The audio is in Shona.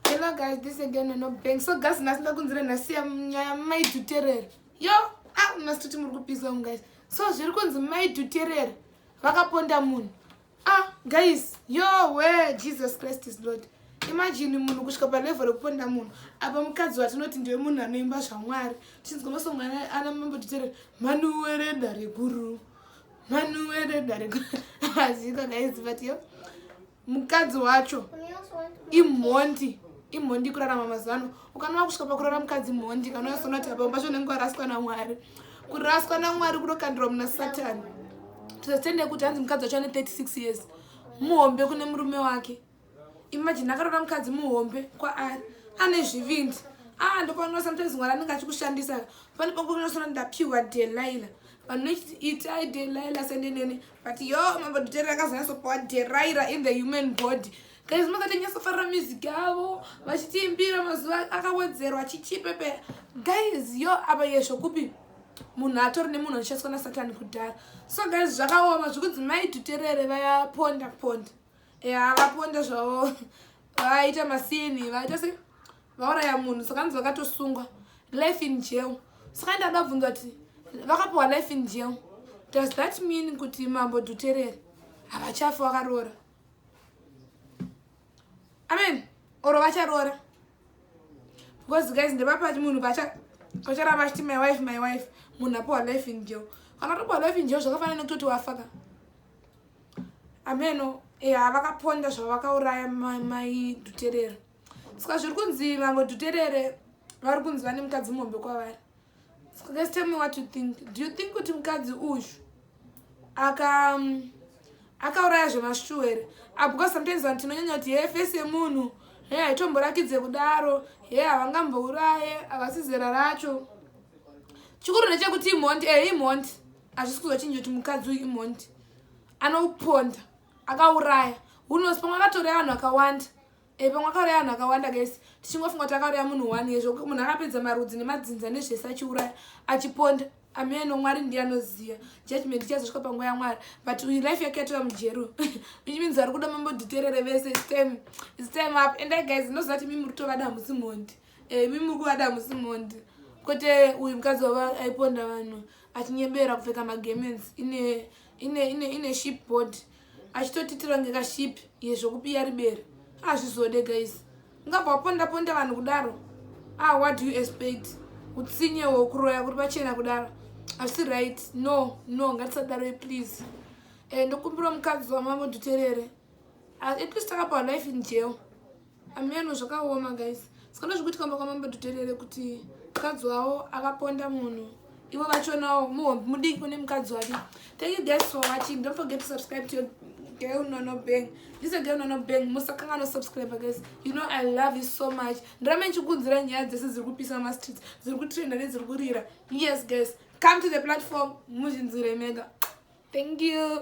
Hello guys, this is Diana no bank. So guys, nasi ndakunzira nasi ya nyaya mai tuterere. Yo, ah nasi tuti muri kupisa un guys. So zviri kunzi mai tuterere vakaponda munhu. Ah guys, yo we Jesus Christ is Lord. Imagine munhu kusvika pa level rekuponda munhu. Apa mukadzi watinoti ndiwe munhu anoimba zvaMwari. Tinzi kunosongana ana mambo tuterere. Manu werenda reguru. Manu werenda reguru. Azika guys, but yo. mukadzi wacho imhondi imhondi kurarama mazuva ano ukanova kusvika pakurara mukadzi mhondi kana uyasona kuti apamba zvo unenge waraswa namwari kuraswa namwari kunokandirwa muna satani tizatende kuti hanzi mukadzi wacho ane 36 years muhombe kune murume wake imajini akarora mukadzi muhombe kwaari ane zvivindi aa ah, ndopanoa sometimes mwari anenge achikushandisa pane pakunosona ndapiwa delaila vanhu vechiti itai delaila senenene but yo mambo dutera akazonyasopowa deraira in the human body guys makatonyasofarira music avo vachitiimbira mazuva akawedzerwa chichipepe guys yo apa yesho kupi munhu atori nemunhu anoshandiswa nasatani kudhara so guys zvakaoma zvekunzi mai duterere vayaponda ponda ya vaponda zvavo vaita masini vaita se vauraya munhu saka nzi vakatosungwa life in jail saka ndada bvunza kuti vakapiwa life in jail does that mean kuti mambo dhuterere havachafi wakaroora amen oro vacharoora because guys ndepapa munhu vacharamba achiti my wife my wife munhu apiwa life in jail kana topiwa life in jail zvakafanana nekutoti wafaka ameno e eh, havakaponda zvavakauraya mai dhuterera ska zviri kunzi mambo dhuterere vari kunzi vane mukadzi muhombe kwavari ska guys tell me what you think do you think kuti mukadzi uyu aka um, akauraya zvemashuwa here ah, because sometimes vanhu tinonyanya kuti hee fesi yemunhu he haitomborakidze kudaro he havangambouraye havasi zera racho chikuru ndechekuti imhondi e eh, imhondi hazvisi kuzochinja kuti mukadzi uyu imhondi anoponda akauraya unosi pamwe akatoraya vanhu vakawanda e pamwe akauraya vanhu vakawanda guys tichingofunga kuti akauraya munhu one ye zvokuti munhu akapedza marudzi nemadzinza nezvese achiuraya achiponda ameno mwari ndiye anoziva judgment ichazosvika panguva yamwari but uyu life yake yatova mujero which means vari kuda mambo dhiterere vese stem stem up and i guys ndinoziva kuti mimi muri kutovada hamusi mhondi e eh, mimi muri kuvada hamusi mhondi kuti eh, uyu mukadzi wava aiponda vanhu achinyebera kupfeka magemens ine ine ine ine ship body achitotitira kunge kashipi iye zvokubiya ribere hazvizode guys ungabva waponda ponda vanhu kudaro ah what do you expect utsinye wokuroya kuri pachena kudaro asi right no no ngatisadaroi please eh, ndokumbira mukadzi wamambo duterere ah, at least akapa life in jail Ameno zvakaoma guys. Sikana zvikuitika mba kwamambo tuterere kuti mukadzi wawo akaponda munhu. Ivo vachonawo muhombi mudiki kune mukadzi wake. Thank you guys for watching. Don't forget to subscribe to your girl nono bang. This is a girl nono bang. Musakangano subscribe guys. You know I love you so much. Ndirame nchikunzira nyaya dzese dziri kupisa ma streets. Dziri kutrenda nedziri kurira. Yes guys. Come to the platform. Muzhinzire mega. Thank you.